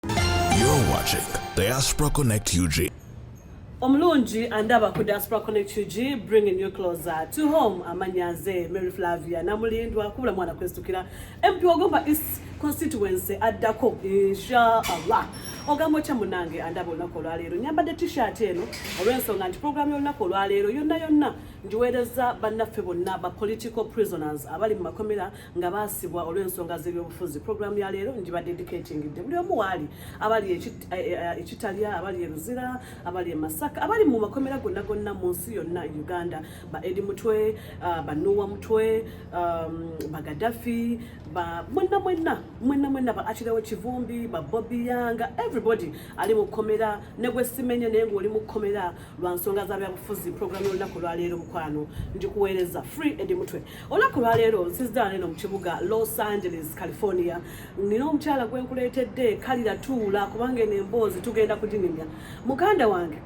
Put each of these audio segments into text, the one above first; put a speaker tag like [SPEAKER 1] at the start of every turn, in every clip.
[SPEAKER 1] You're watching Diaspora Connect UG. omulungi
[SPEAKER 2] andaba ku diaspora connect ug bringing you closer to home amanyaze mary flavia namulindwa kubula mwana kwestukira mp wagomba east constituency addako inshaallah ogamba otya munange andaba olunaku olwaleero nyambadde t-shirt eno olw'ensonga nti programu y'olunaku olwaleero yonna yonna ngiweereza bannaffe bonna ba political prisoners abali mu makomera nga baasibwa olw'ensonga z'ebyobufuzi pulogulaamu ya leero ngiba dedicatingidde buli omu waali abali eh, eh, ekitalya abali e luzira abali e masaka abali mu makomera gonna gonna mu nsi yonna e uganda ba edi mutwe ah, banuwa mutwe um, bagadafi mwenna mwenna mwenna mwenna ba akirewo kivumbi ba bobi yanga everybody ali mu kkomera ne gwe simenye naye ng'oli mu kkomera lwa nsonga za byabufuzi pulogulaamu y'olunaku lwaleero mukwano ndikuweereza free edi mutwe olunaku lwaleero nsiziddala neno mu kibuga los angeles california nina omukyala gwe nkuleetedde kalira tuula kubanga eno emboozi tugenda kuginyumya muganda wange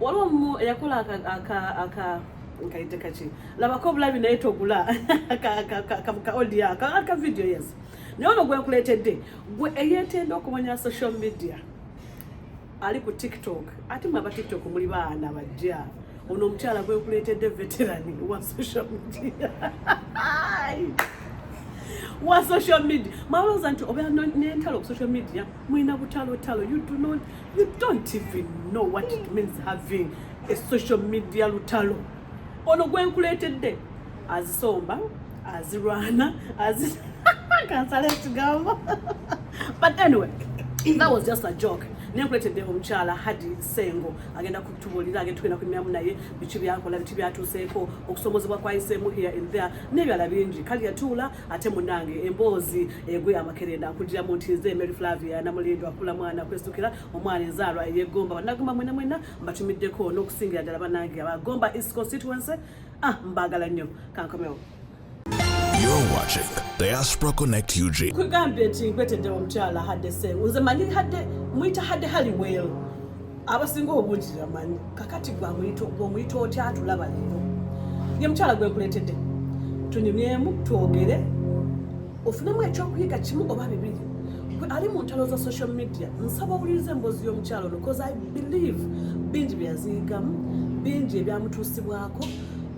[SPEAKER 2] waliwo omu eyakola aka nkayite kaki labako obulabi naye togula ka audio ka video yes naye ono gwe nkuleetedde gwe eyeetenda okumanya social media ali ku tiktok ate mwe aba tiktok muli baana bajja ono omukyala gwekuleetedde veteran wa social media wa social media mwalowooza nti obeera nentalo ku social media mulina butalotalo you do not you don't even know what it means having a social media lutalo ono gwenkuleetedde azisomba azirwana azi kansala ekigambo but anyway that was just a joke naye nkuletedde omukyala hadi sengo agenda kutubuulira agenda tugenda kunyumyamu naye biki byakola biki byatuuseeko okusomozebwa kwayiseemu here and there n'ebyala bingi kali yatuula ate munange emboozi egwe amakerenda nkugiramu nti nze mary flavia namulindo akula mwana kwesukira omwana enzaalwa eyegomba banagomba mwena mwena mbatumiddeko n'okusingira ddala banange abagomba east constituency ah mbagala nnyo kankomewo
[SPEAKER 1] You're watching Diaspora Connect UG. Kugambye nti nkwetedde
[SPEAKER 2] omukyala hadde sengu nze manyi hadde muyita hadde haliwell abasinga obungi yamanyi kakati gwomuyita otya atulaba leero ye mukyala gwenkuletedde tunyumyemu twogere ofunemu ekyokuyiga kimu oba bibiri gwe ali mu ntalo za social media nsaba owuliriza emboozi y'omukyalo ono bcause i believe bingi byeyaziyigamu bingi ebyamutuusibwako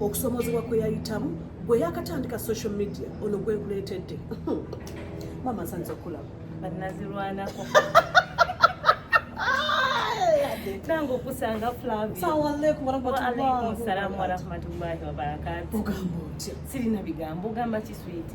[SPEAKER 2] okusomozebwa kweyayitamu gwe yakatandika social media ono gwekuleetedde mama nsanyiza okulaba banazirwanako
[SPEAKER 3] nange okusanga flaviasalaamu
[SPEAKER 2] warahmatullahi
[SPEAKER 3] wabarakatu
[SPEAKER 2] sirina bigambo
[SPEAKER 3] ogamba kiswiti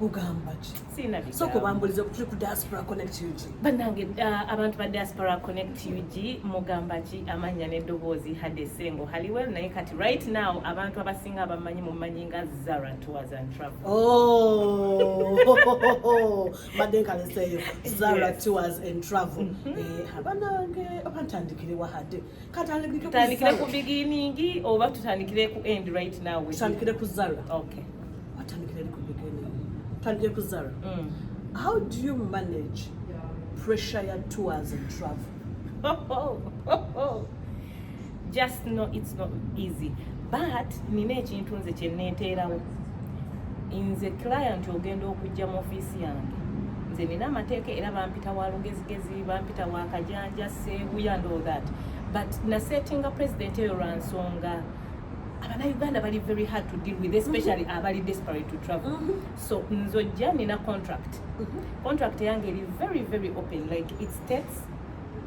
[SPEAKER 2] ugamba ki sooka obambuliza
[SPEAKER 3] okutuli ku
[SPEAKER 2] diaspora connect ug bannange uh,
[SPEAKER 3] abantu ba diaspora connect ug mugamba ki amannya n'eddoboozi hadde sengo haliwel naye kati right now abantu abasinga abamanyi mumanyi nga zara tours and travel oh!
[SPEAKER 2] badde nkaleseeyo zara tours and travel mm-hmm. eh, abanange abantandikire wahadde tutandikire
[SPEAKER 3] ku beginning oba tutandikire ku end right now tutandikire ku zara
[SPEAKER 2] okay
[SPEAKER 3] watandikire ku
[SPEAKER 2] beginning tutandikire ku zara mm. how do you manage pressure ya tours and travel
[SPEAKER 3] just know it's not easy but nina ekintu nze kyenneeteerawo nze client ogenda okujja mu ofiisi yange nze nina amateeka era bampita wa lugezigezi bampita wa kajanja Seguya and all that but na setting a president eyo lwa nsonga abanauganda bali very hard to deal with especially mm -hmm. abali desperate to travel mm -hmm. so nzojja nina contract mm -hmm. contract yange eri very very open like it states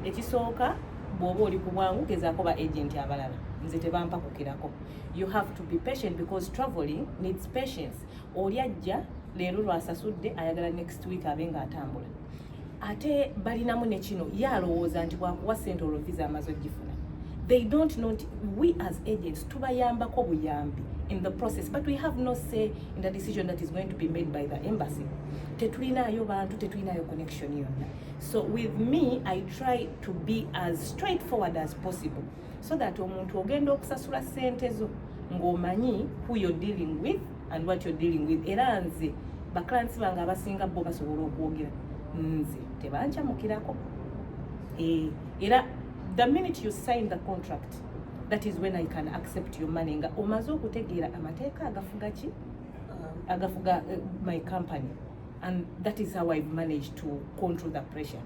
[SPEAKER 3] ekisooka bwoba oli ku bwangu gezaako ba agent abalala nze tebampakukirako you have to be patient because traveling needs patience oli ajja leero lwasasudde ayagala next week abe nga atambula ate balinamu ne kino ye alowooza nti bwakuwa sente olwo visa amaze ogifuna they don't know nti we as agents tubayambako buyambi in the process but we have no say in the decision that is going to be made by the embassy tetulinaayo bantu tetulinaayo connection yonna so with me i try to be as straightforward as possible so that omuntu ogenda okusasula sente zo ng'omanyi who you're dealing with and what you're dealing with era nze ba clients bange abasinga bo basobola okwogera nze tebancamukirako eh, era the minute you sign the contract that is when i can accept your money nga omaze okutegeera amateeka agafuga ki uh, agafuga uh, my company and that is how i've managed to control the pressure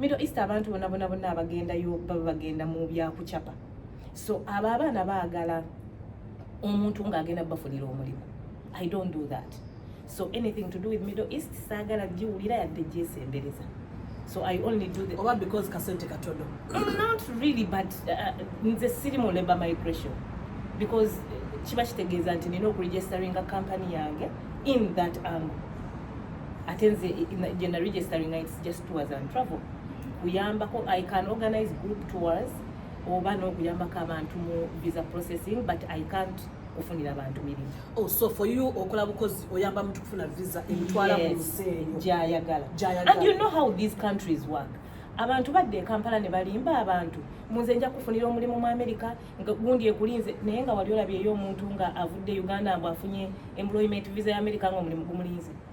[SPEAKER 3] Middle East abantu bona bona bona abagendayo baba bagenda mu bya kucapa. So abo abaana baagala omuntu ng'agenda bafunira omulimu. I don't do that. So anything to do with Middle East saagala giwulira yadde gyesembereza. So I only do the oba because kasente katodo.
[SPEAKER 2] Mm, not really
[SPEAKER 3] but uh, uh, nze uh, siri mu labor migration because uh, kiba kitegeeza nti nina okuregisteringa company yange in that angle ate nze gye naregisteringa it's just tours and travel kuyambako i can organize group tours oba n'okuyambako abantu mu visa processing but i can't kufunira abantu mirimu oh, so for you
[SPEAKER 2] okola bukozi oyamba muntu kufuna visa emutwala mu nsi eyo gyayagala
[SPEAKER 3] and you know how these countries work abantu badde ekampala ne balimba abantu munze nja kufunira omulimu mu amerika gundi ekulinze naye nga wali olabyeyo omuntu nga avudde uganda mbu afunye employment visa ya amerika nga omulimu gumulinze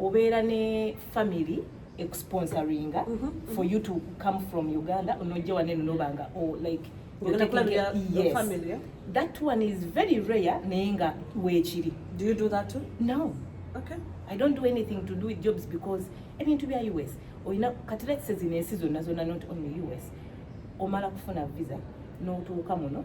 [SPEAKER 3] obeera ne family exponsoringa mm -hmm. for you to come from uganda onojja waneno nobanga o oh, like
[SPEAKER 2] yes. family, that one is
[SPEAKER 3] very rare naye nga weekiri do you do that
[SPEAKER 2] too? no okay.
[SPEAKER 3] i
[SPEAKER 2] don't do anything
[SPEAKER 3] to do with jobs because ebintu bya us olina kati let's say zino ensi zonna zonna not only us omala kufuna visa n'otuuka muno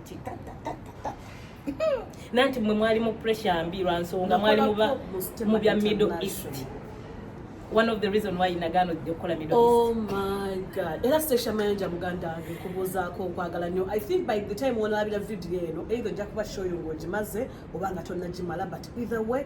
[SPEAKER 3] nanti mwe mwali mu pressure mbi lwa nsonga mwali mu bya middle east one of the reason why nagaano ojja okukola middle east oh my
[SPEAKER 2] god era station manager muganda wange kubuuzaako okwagala nnyo i think by the time wonalabira video eno either ojja kuba show yo ng'ogimaze oba nga tonnagimala but either way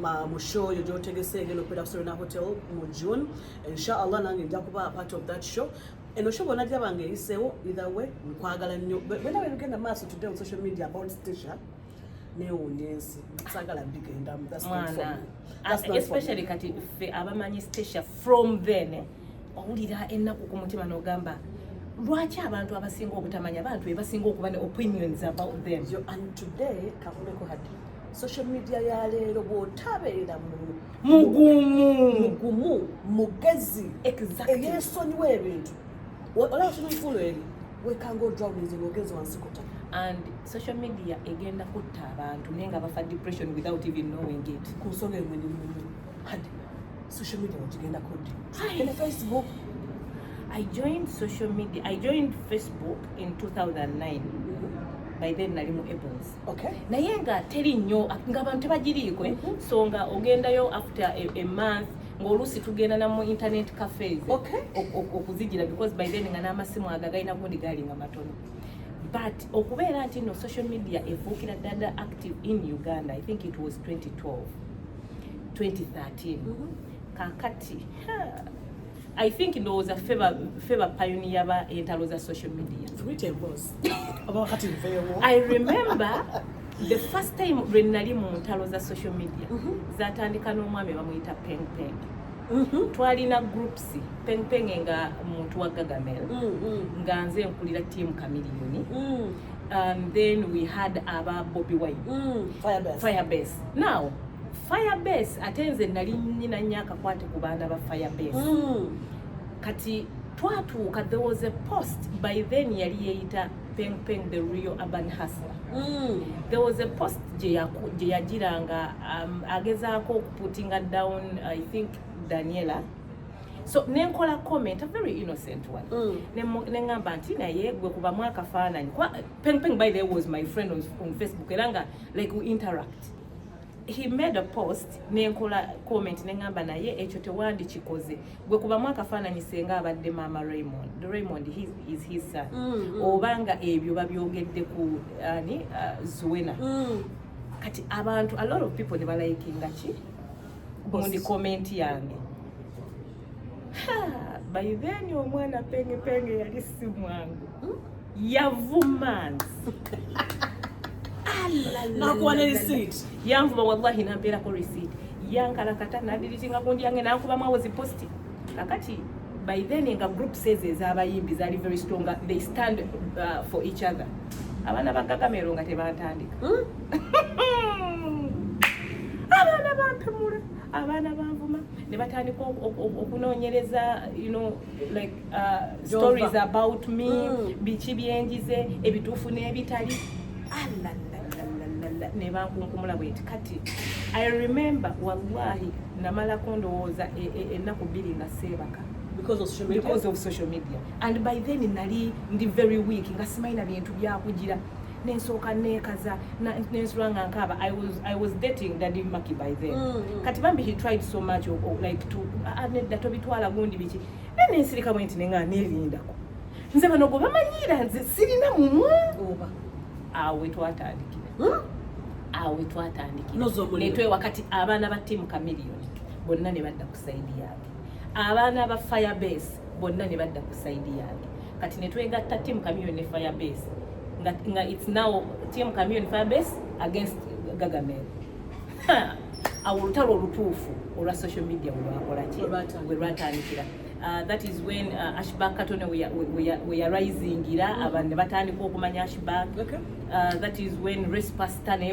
[SPEAKER 2] ma mu show yo gyotegese engeri okubeera ku Serena Hotel mu June inshallah nange nja kuba part of that show eno show bona gyaba nga eyiseewo either way nkwagala nnyo bwena bebigenda maaso today on social media about station newunya ensi sagala bigendamu especially
[SPEAKER 3] kati ffe abamanyi stacia from then eh, owulira ennaku ku mutima n'ogamba lwaki abantu abasinga obutamanya abantu bebasinga okuba ne opinions about them Yo, and today
[SPEAKER 2] kakuleko hati social media ya leero bw'otabeera mugumu mugumu mugezi eyesonyiwa ebintu olaba kino nkulo eri wekanga odrawulinze ng'ogenze wansi kuta and social
[SPEAKER 3] media egenda kutta abantu naye nga bafa depression without even knowing it ku nsonga emunyumumu
[SPEAKER 2] kati social media wekigenda kuddi ene facebook I joined
[SPEAKER 3] social media. I joined Facebook in 2009. By then, Nalimu Ebons. Okay. naye nga
[SPEAKER 2] teri
[SPEAKER 3] nnyo nga abantu tebagiriiko eh? mm-hmm. so nga ogendayo after a, a month ng'oluusi tugenda na mu internet cafes okay. okuzigira because by then nga n'amasimu ago agalina gundi gaali nga matono but okubeera nti no social media efuukira dada active in uganda i think it was 2012 2013 mm -hmm. kakati ha. I think ndowooza ffe bapayoniya ba entalo za social media I remember the first time lwe nali mu ntalo za social media mhm. zatandika n'omwami bamuyita peng peng mhm. twalina groups peng peng nga muntu wa gagamel mm, mm. nga nze nkulira tiamu kamiliyoni mm. um, then we had aba Bobby Wine mm, Firebase. Firebase. Now Firebase ate nze nali nyina nnyo akakwate ku baana ba Firebase mm. kati twatuuka there was a post by then yali yeeyita Peng Peng the real urban hustler mm. there was a post gye yagiranga um, agezaako okuputinga down I think Daniela so nenkola comment a very innocent one mm. nengamba nti naye gwe kuba mwaka fananyi kwa peng peng by the way was my friend on, on facebook era nga like we interact he made a post nenkola comment nengamba naye ekyo tewandi kikoze gwe kuba mwaka fananyi senga abadde mama raymond the raymond he is his son mm, mm. obanga ebyo babyogedde ku ani uh, zuena mm. kati abantu a lot of people ne balayikinga ki mundi komenti yange by then omwana penge penge yali si mwangu hmm? yavumanzi
[SPEAKER 2] nakuwa ne receipt yanvuma wallahi
[SPEAKER 3] nampeerako receipt yankalakata nadiritinga kundi yange nankubamu awo ziposti kakati by then nga group says ezabayimbi zali very strong they stand uh, for each other abaana bagagamero nga tebatandika hmm? abaana bampemula abaana banvuma ne batandika okunoonyereza like uh, stories about me mm. biki byenjize ebituufu n'ebitali alalalalala ne bankunkumula bweti kati i remember wallahi namalako ndowooza e, e, ennaku bbiri nga seebaka because of social media, because of social media. and by then nali ndi very weak nga simaina bintu byakugira nensooka nekaza nensula nga nkaaba I was, I was dating daddy maki by then mm, mm. kati bambi he tried so much oh, oh, like to ah, ah, nedda tobitwala gundi biki naye nensirika bwe nti nenga nerindako nze bano gwe bamanyiira nze sirina mumwa oba awo wetwatandikira hmm? awo wetwatandikira netwewa kati abaana ba tiamu camilion bonna ne badda ku saidi yange abaana ba fire base bonna ne badda ku saidi yange kati ne twegatta team communion ne fire base nga, nga it's now team communion fire base against gagamel awo olutalo olutuufu olwa social media webwakolaki werwatandikira Uh, that is when uh, ashback katone weyarisingira mm. abantu nebatandika okumanya ashback okay. uh, that is when race pastor naye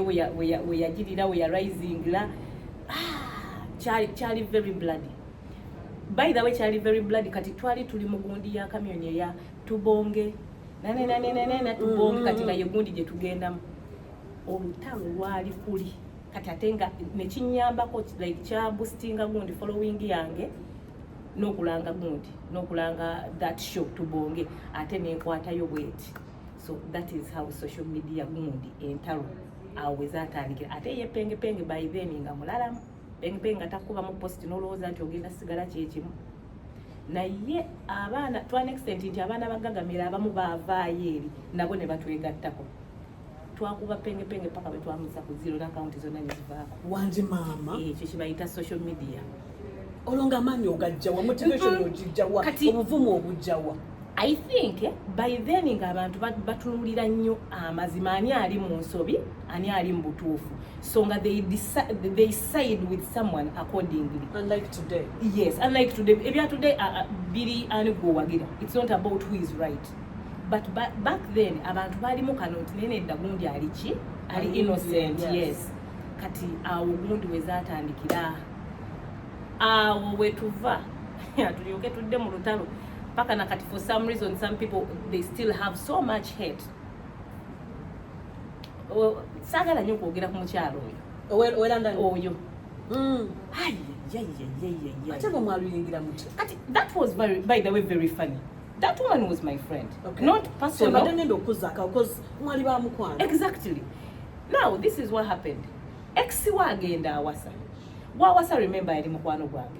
[SPEAKER 3] weyagirira weyarisingira ah, kyali very bloody by the way kyali very blood kati twali tuli mugundi ya camion ya tubonge nane nane nane na tubonge kati mm. naye gundi gye tugendamu olutalo lwali kuli kati ate nga nekinyambako like kya boostinga gundi following yange nokulanga gundi nokulanga that show tubonge ate nenkwatayo bweti so that is how social media gundi entalo awo wezatandikira ate yepengepenge by then nga mulalamu bengpeng nga takubamu post nolowooza nti ogenda sigala kyekimu naye abaana to an extent nti abaana bagagamira abamu baavaayo eri nabo ne batwegattako twakuba pengepenge paka bwetwamusa ku ziro n'akawunti zonna ne zivaako wanje maama
[SPEAKER 2] eh, ekyo kibayita social
[SPEAKER 3] media olwo nga
[SPEAKER 2] amaanyi ogajjawa motivation ogijjawa obuvumu obujjawa i think
[SPEAKER 3] eh, by then ng'abantu batunulira nnyo amazima ani ali mu nsobi ani ali mu butuufu so nga they, they side with someone accordingly unlike today
[SPEAKER 2] yes unlike today
[SPEAKER 3] ebya today uh, uh, biri ani gwowagira it's not about who is right but ba back then abantu balimu kano nti naye nedda gundi ali ki ali innocent yes, yes. kati awo gundi wezatandikira awo wetuva tulyoke tudde mu lutalo paka na kati for some reason some people they still have so much hate saagala nyo okwogera ku
[SPEAKER 2] mukyalo
[SPEAKER 3] oyo oyo mm. ate bwe mwaluyingira mutya kati that was very, by the way very funny that woman was my friend okay. not personal so, nenda okuzaka because mwali ba mukwano exactly now this is what happened ex wa agenda awasa wawasa remember yali mukwano gwange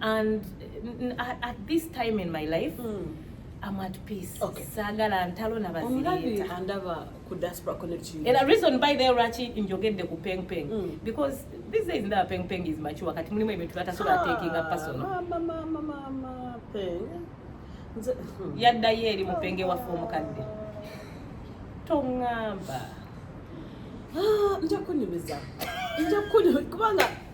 [SPEAKER 3] and at this time in my life mm. I'm at peace. Okay. Sagala ntalo na bazirita. Omulabi andaba ku
[SPEAKER 2] diaspora connect you. And a reason by the rachi
[SPEAKER 3] njogedde ku peng peng mm. because this is ndaba peng peng is mature kati mulimu ebintu bata sura ah, taking up personal. Mama mama mama
[SPEAKER 2] peng. Hmm.
[SPEAKER 3] Yadda yeri mupenge wa fomu kadde. Tongamba. Ah, nja
[SPEAKER 2] kunyumiza. Nja kunyumiza kubanga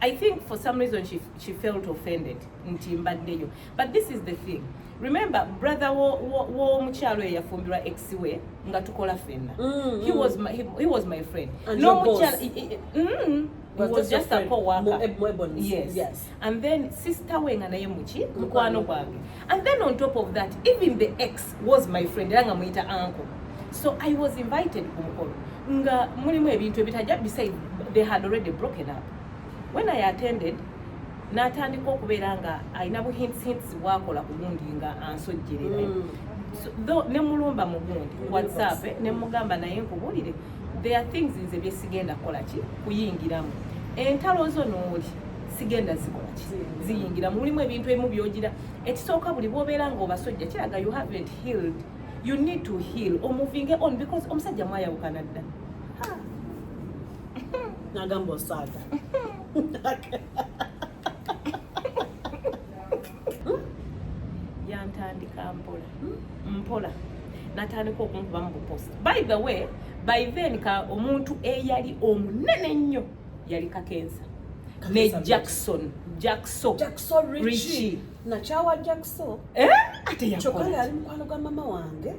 [SPEAKER 3] I think for some reason she, she felt offended nti mbaddeyo but this is the thing remember brother w'omukyalo wo, wo eyafumbirwa ex we nga tukola fenna mm, he, mm. was my, he, he was my friend nomukyalo
[SPEAKER 2] mm,
[SPEAKER 3] He was just a co-worker. Yes. yes.
[SPEAKER 2] And then
[SPEAKER 3] sister we nga naye muki mukwano gwange. and then on top of that even the ex was my friend era nga muyita uncle so i was invited ku mukolo nga mulimu ebintu ebitajja beside they had already broken up when i attended natandika okubeera nga alina buhintshints bwakola ku gundi nga ansojjerere mm. ne mulumba mu gundi whatsapp eh, ne mugamba naye nkubuulire there are things nze byesigenda kukola ki kuyingiramu entalo zo nooli sigenda zikola ki ziyingira mulimu ebintu ebimu byogira ekisooka buli bwobeera nga obasojja kiraga you haven't healed you need to heal omuvinge on because omusajja mwayawukana dda
[SPEAKER 2] nagamba osaaga
[SPEAKER 3] yantandika mpola mpola natandika okunkuba mu bupost by the way by then ka omuntu eyali omunene ennyo yali kakensa ne jackson jackso jackson richie nakyawa jackso
[SPEAKER 2] eh? ate
[SPEAKER 3] yakola yali mukwano gwa mama
[SPEAKER 2] wange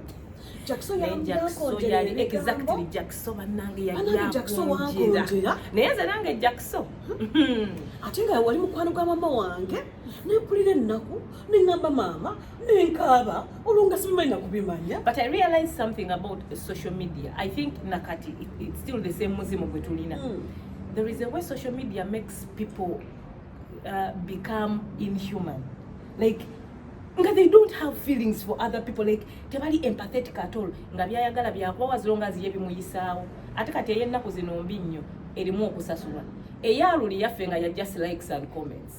[SPEAKER 2] naye nze nange
[SPEAKER 3] jackso hmm.
[SPEAKER 2] ate nga wali mukwano gwa mama wange nempulira ennaku nengamba maama nenkaaba olwo nga sibimanyi nakubimanya but i realize something
[SPEAKER 3] about social media i think nakati it's still the same muzimu gwe tulina mm. there is a way social media makes people uh, become inhuman like nga they don't have feelings for other people like tebali empathetic at all nga byayagala byakubawa as long as ye bimuyisaawo ate kati eyennaku zino mbi nnyo erimu okusasulwa eyaluli yaffe nga ya just likes and comments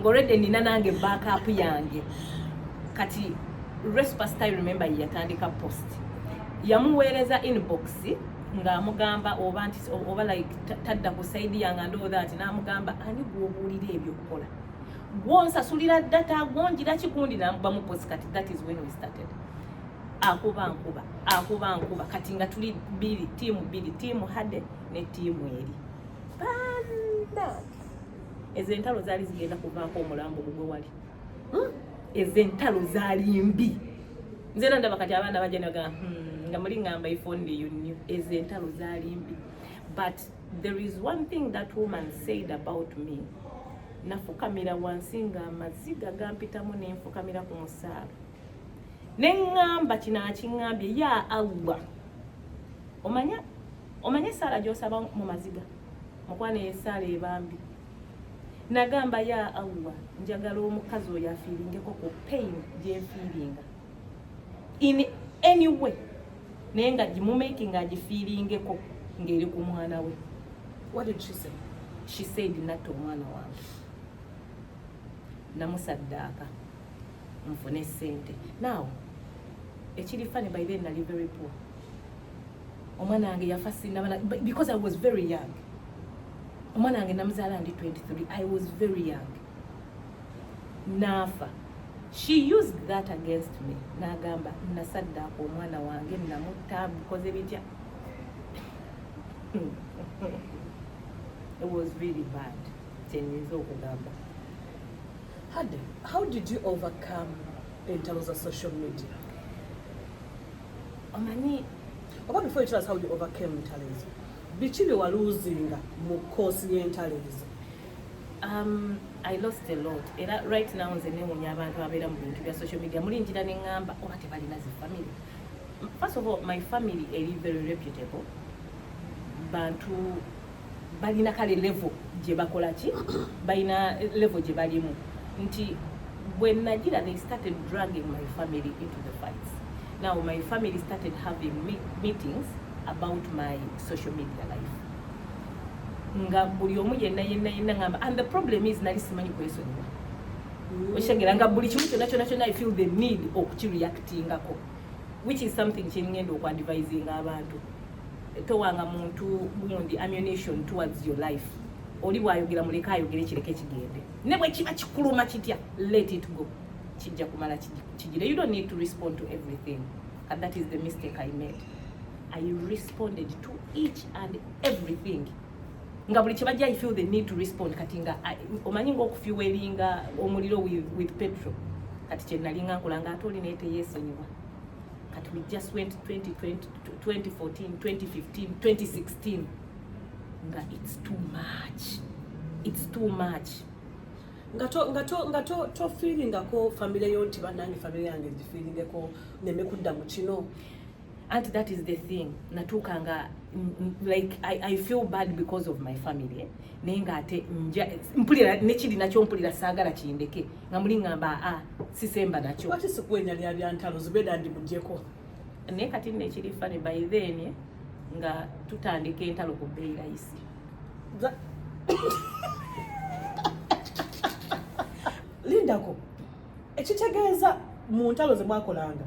[SPEAKER 3] ngolwedde nina nange backup yange kati respasta remember yeyatandika post yamuweereza inbox ng'amugamba oba nti oba like tadda ku saidi yange andoo that n'amugamba ani gwobuulira ebyokukola gwonsasulira data gwongira kigundi namubamu posi kati that is when we started akuba nkuba akuba nkuba kati nga tuli biri tiimu biri tiimu hade ne tiimu eri bana ezo entalo zaali zigenda kuvaako omulambo gugwe wali hmm? ezo entalo zaali mbi nze era ndaba kati abaana bajja naga hmm, nga muli ngamba iphone you new ezo entalo zaali mbi but there is one thing that woman said about me nafukamira wansi nga amaziga gampitamu nenfukamira ku musaala neŋŋamba kino akiŋŋambye ya allah omanya omanya esaala gyosaba mu maziga mukwano yesaala ebambi nagamba ya allah njagala omukazi oyo afiiringeko ku pain gyenfiiringa in any way naye nga gimumaking agifiiringeko ng'eri ku mwana we what did she
[SPEAKER 2] say she said
[SPEAKER 3] natta omwana wange namusaddaaka nfune sente now ekiri fani by then nali very poor omwana wange yafa sinabana because i was very young omwana wange namuzaala ndi 23 i was very young naafa she used that against me nagamba nasaddaako omwana wange namutta bukoze bitya it was really bad kyenyinza okugamba
[SPEAKER 2] how did you overcome entalo za social media omanyi oba before you tell us how you overcame entalo ezo biki bye waluuzinga mu koosi y'entalo ezo um,
[SPEAKER 3] i lost a lot era right now nze newunya abantu abeera mu bintu bya social media muli njira ne ŋŋamba oba oh, tebalina zi family first of all my family eri very reputable bantu balina kale levo gye bakola ki balina levo gye balimu nti bwe nagira they started dragging my family into the fights now my family started having meetings about my social media life nga buli omu yenna yenna yenna ngamba and the problem is nali simanyi kwesonyiwa mm. okitegera nga buli kimu kyonna kyonna kyonna i feel the need okukireactingako which is something kyengenda okwandivisinga abantu towanga muntu gundi ammunition towards your life oli bwayogera muleka ayogere kireke kigende ne bwe kiba kikuluma kitya let it go kijja kumala kijire you don't need to respond to everything and that is the mistake i made i responded to each and everything nga buli kibajja i feel the need to respond kati nga omanyi ngaokufiwelinga omuliro with, with petro kati kyenalinga nkola nga ate oli naye teyesonyiwa kati we just went 2020, 2014 2015 2016 nga it's too much it's too much nga to nga to nga to to feeling ko family yo nti banange family yange ndi feeling ko neme kudda mu kino and that is the thing natuka nga like I, I feel bad because of my family eh? naye nga ate nja mpulira nekiri nakyo mpulira saagala kindeke nga muli ngamba a ah, sisemba nakyo kati sikwenya lya
[SPEAKER 2] byantalo zubeda ndi mujeko naye kati nno
[SPEAKER 3] ekiri fane by then nga tutandika entalo ku bbeeyi layisi
[SPEAKER 2] lindako ekitegeeza mu ntalo ze mwakolanga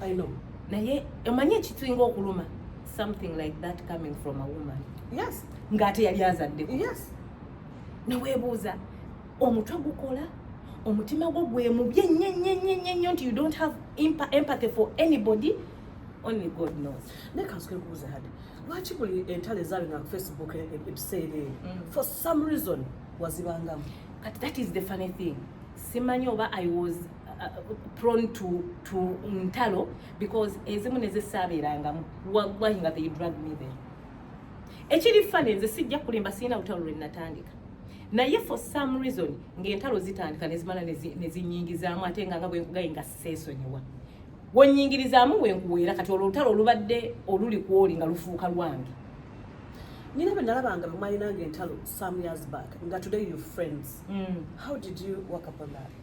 [SPEAKER 2] I know. Naye omanyi
[SPEAKER 3] ekituinga okuluma something like that coming from a woman. Yes. Ngate
[SPEAKER 2] yali azadde.
[SPEAKER 3] Yes.
[SPEAKER 2] Nawebuuza
[SPEAKER 3] omutwe gukola omutima gwo gwemubye nyenyenyenyenyo nti you don't have empathy for anybody only god knows naye kansike kubuuza hadi
[SPEAKER 2] lwaki buli entalo ezaali nga facebook ebiseera eyo mm. for some reason wazibangamu kati that is the
[SPEAKER 3] funny thing simanyi oba i was prone to to ntalo because ezimu nezisaabeerangamu wallahi nga they drag me there ekiri fane nze sijja kulimba sirina lutalo lwe natandika naye for some reason ng'entalo zitandika nezimala nezinyingizaamu ate nga nga bwenkugaye nga seesonyiwa wenyingirizaamu wenkuweera kati olwo olutalo olubadde oluli kwoli nga lufuuka lwange
[SPEAKER 2] nyina bwe nalabanga bemwalinanga entalo some years back nga today you friends mm. how did you work upon that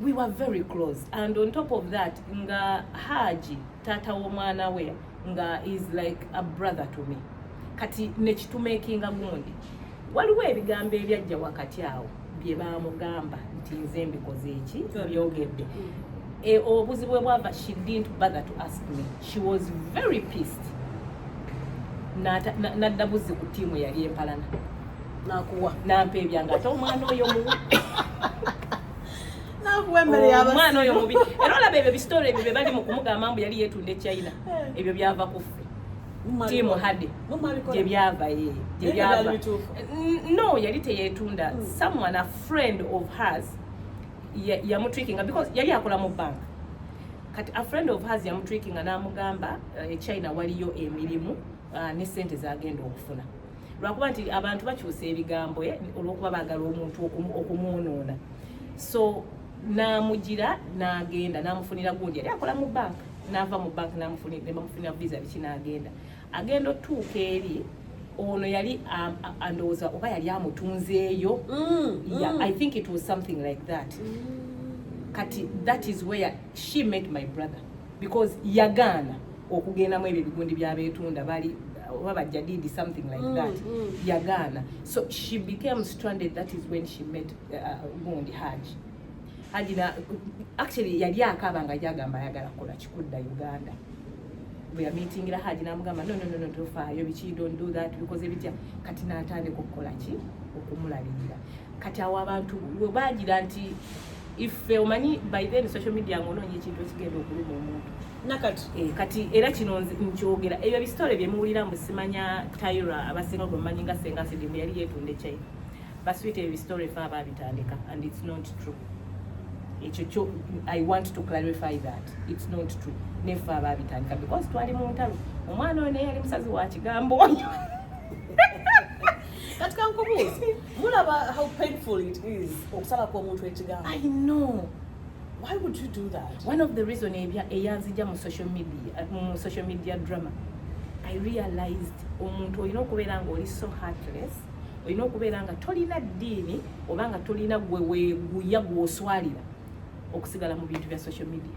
[SPEAKER 3] we were very close and on top of that nga haji taata w'omwana we nga is like a brother to me kati nekitumakinga gundi waliwo ebigambo ebyajja wakati awo bye baamugamba nti nze mbikoze eki byogedde e, obuzibu bwebwava she didn't bother to ask me she was very pissed nadda buzzi ku tiimu yali empalana nakuwa
[SPEAKER 2] nampa ebyange
[SPEAKER 3] ate omwana oyo
[SPEAKER 2] muwa omwana oyo mubi era
[SPEAKER 3] olaba ebyo bisitore ebyo bebali mu kumugamba mbu yali yetunda echina eh. ebyo byava kuffe tiimu hade gyebyava ye gyebyava no yali teyetunda hmm. someone a friend of hers yamutrikinga because yali akola mu bank kati a friend of hers yamutrikinga namugamba echina eh, waliyo emirimu ah, ne sente zagenda okufuna lwakuba nti abantu bakyusa ebigambo eh, olwokuba bagala omuntu okumwonoona so namugira nagenda namufunira gundi yali akola mu bank nava mu bank nebamufunira visa biki nagenda agenda otuuka eri ono yali um, andowooza oba yali amutunzeeyo mm, mm. i think it was something like that mm. kati that is where she met my brother because yagaana okugendamu ebyo ebigundi byabetunda bali oba bajadidi something like mm, that mm, mm. yagaana so she became stranded that is when she met uh, uh gundi haji haji na actually yali akaba nga jagamba ayagala kukola kikudda uganda bweyamitingira haji namugamba no, no, no, no, tofaayo biki don't do that bikoze bitya kati natandika okukola ki okumulabirira kati awo abantu webagira nti ife omanyi by then social media ngaonoonya ekintu ekigenda okuluma omuntu nakati eh, kati
[SPEAKER 2] era kino
[SPEAKER 3] nkyogera ebyo ebisitole byemuwulira mbu simanya tyra abasinga gwemumanyi nga senga sidimu yali yetunda ekyai baswita ebyo ebisitole fe abaabitandika and its not true ekyo kyo i want to clarify that its not true nefe abaabitandika because twali mu ntalo omwana oyo naye yali musazi wa kigambo oyo
[SPEAKER 2] kati kankubuuzi mulaba how painful it is okusala kw'omuntu ekigambo i know
[SPEAKER 3] why would
[SPEAKER 2] you do that one of the reason
[SPEAKER 3] eyanzija mu social media uh, mu social media drama i realized omuntu olina okubeera nga oli so heartless olina okubeera nga tolina ddiini oba nga tolina gwe weguya gwoswalira okusigala mu bintu bya social media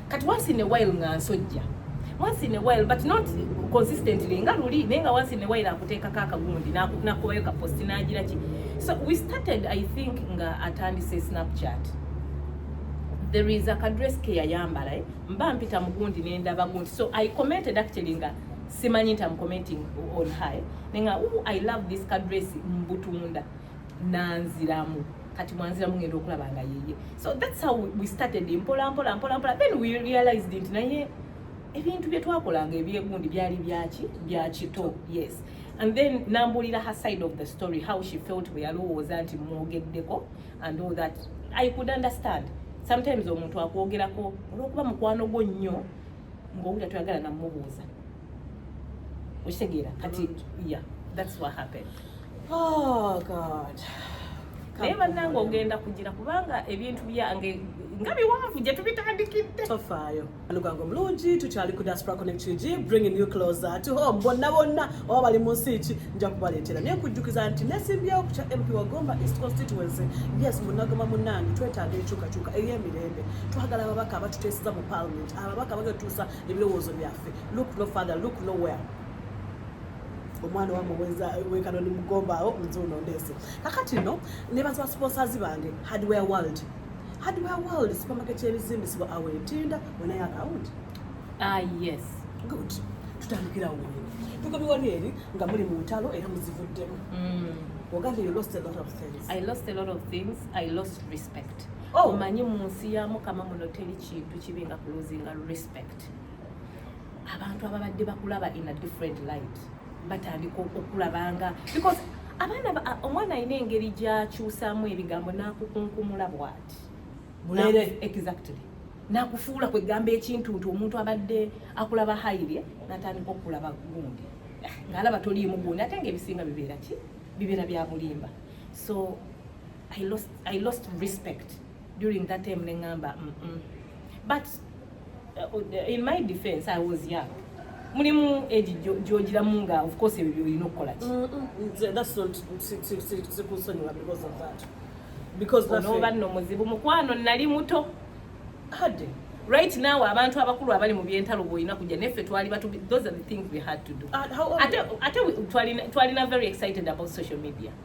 [SPEAKER 2] kati
[SPEAKER 3] once in a while nga nsojja once in a while but not consistently nga luli naye nga once in a while akuteekako akagundi nakubayo ka post nagira ki so we started i think nga atandise snapchat there is a kadress ke yayambala eh? mba mpita mugundi nendaba gundi so i commented actually nga simanyi nti am commenting on high eh? nenga ooh i love this kadress mbutunda nanziramu kati mwanziramu ngenda okulaba nga yeye so that's how we started mpola mpola mpola mpola then we realized nti naye ebintu bye twakolanga ebyegundi byali byaki byakito yes and then nambuulira her side of the story how she felt bwe yalowooza nti mwogeddeko and all that i could understand sometimes omuntu akwogerako olwokuba mukwano gwo nnyo ngaowulira toyagala namubuuza okitegeera kati ya thats what happened oh
[SPEAKER 2] god naye
[SPEAKER 3] bannanga ogenda kugira kubanga ebintu byange nga biwanvu gye tubitandikidde tofaayo
[SPEAKER 2] alugange omulungi tukyali ku diaspora connect ug bringing you closer to home bonna bonna oba bali mu nsi ki nja kubaleetera naye nkujjukiza nti nesimbyewo ku kya mp wagomba east constituency yes munagoma munange twetaaga enkyukakyuka ey'emirembe twagala ababaka abatuteeseza mu parliament ababaka bagetuusa ebirowoozo byaffe look no father look nowhere omwana wa muweza wekano ni mugombaawo nzuuno ndeese kakati no nebaziwa sponsors bange hardware world hardware world supermarket yebizimbisibwa awo etinda wenayo akawunti ah yes
[SPEAKER 3] good
[SPEAKER 2] tutandikirawo tugobiwali eri nga muli mu ntalo era muzivuddemu mm. ogambye you lost a lot of things i lost a lot of things
[SPEAKER 3] i lost respect respect oh. omanyi mu nsi ya mukama muno teri kintu kibi nga kuluzinga respect abantu ababadde bakulaba in a different light batandika okulabanga because abaana omwana alina engeri gyakyusaamu ebigambo nakukunkumula bwati bulere
[SPEAKER 2] exactly
[SPEAKER 3] nakufuula kwegamba ekintu nti omuntu abadde akulaba haire natandika okulaba gundi ngaalaba toliimu gundi ate nga ebisinga bibeera ki bibeera byabulimba so I lost, I lost respect during that time nengamba mm -mm. but uh, in my defense I was young mulimu egi gyogiramu nga of course ebyo byolina okukola ki
[SPEAKER 2] onoba nno muzibu
[SPEAKER 3] mukwano nali muto hade
[SPEAKER 2] right now
[SPEAKER 3] abantu abakulu abali mu byentalo bwolina kujja neffe twali batu those are the things we had to do ah, ate twalina very excited about social media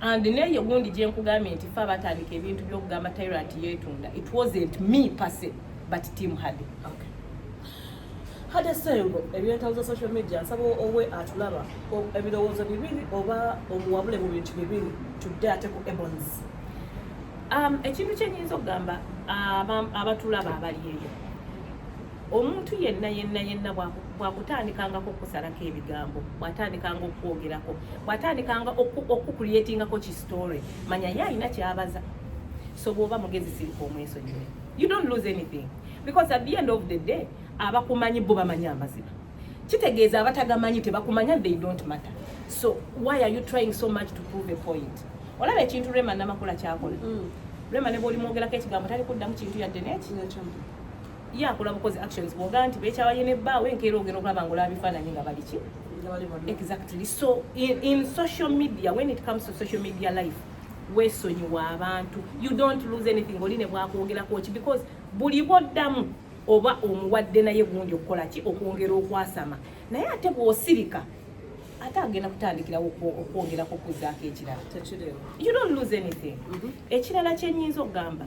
[SPEAKER 3] and neye gundi gyenkugambye nti fe abatandika ebintu byokugamba tyrant yetunda it wasn't me pase but team hade okay.
[SPEAKER 2] hade sengo ebintu za social media nsaba owe atulaba ebirowoozo bibiri oba omuwabule mu bintu bibiri tudde ate ku ebons um,
[SPEAKER 3] ekintu kyenyinza okugamba abatulaba abali eyo omuntu yenna yenna yenna bwakutandikangako okusalako ebigambo bwatandikanga okukwogerako bwatandikanga okukukulyetingako ki story manya ye alina kyabaza so bwoba mugezi sirika omwesonyiwe you don't lose anything because at the end of the day abakumanyi bo bamanyi amazima kitegeeza abatagamanyi tebakumanya they don't matter so why are you trying so much to prove a point olaba ekintu rema namakula kyakola mm. rema ne bwolimwogerako ekigambo tali kuddamu kintu yadde neki ye akola bukozi actions bwogaa nti bekyawa ye ne bbaawe enkeera ogenda okulaba nga olaba bifaananyi nga baliki exactly so in, in social media when it comes to social media life wesonyiwa abantu you don't lose anything oli ne bwakwogerako ki because buli bwoddamu oba omuwadde naye gundi okukola ki okwongera okwasama naye ate bwosirika ate agenda kutandikirawo okwongerako okuzaako ekirala you don't lose anything mm-hmm. ekirala kyenyinza okugamba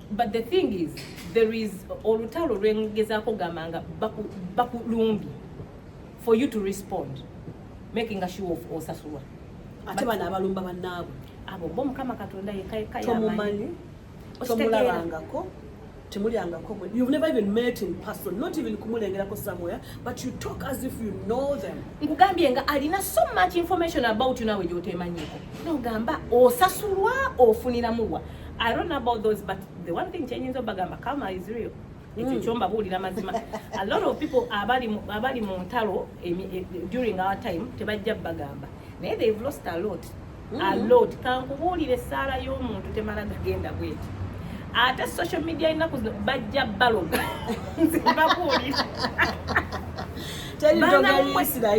[SPEAKER 2] but
[SPEAKER 3] the thing is there is olutalo lwengezaako gamba nga bakulumbye for you to respond making a show of osasulwa ate bano
[SPEAKER 2] abalumba bannaabwe abo bo mukama
[SPEAKER 3] katonda yekayekayamanyi
[SPEAKER 2] tomulabangako temulyangako you've never even met in person not even kumulengerako somewhere but you talk as if you know them nkugambye nga alina
[SPEAKER 3] so much information about you nawe gyotemanyiko nogamba osasulwa ofuniramuwa I don't know about those but the one thing kyenyinza obagamba karma is real ekyo mm. kyomba buulira mazima a lot of people abali abali mu ntalo e, during our time tebajja bagamba naye they've lost a lot mm. a lot kankubuulire essaala y'omuntu temala gagenda bweti ate social media enaku zino bajja baloga nze babuulira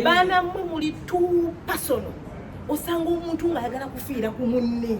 [SPEAKER 3] banamwe muli two personal osanga omuntu ng'ayagala kufiira ku munne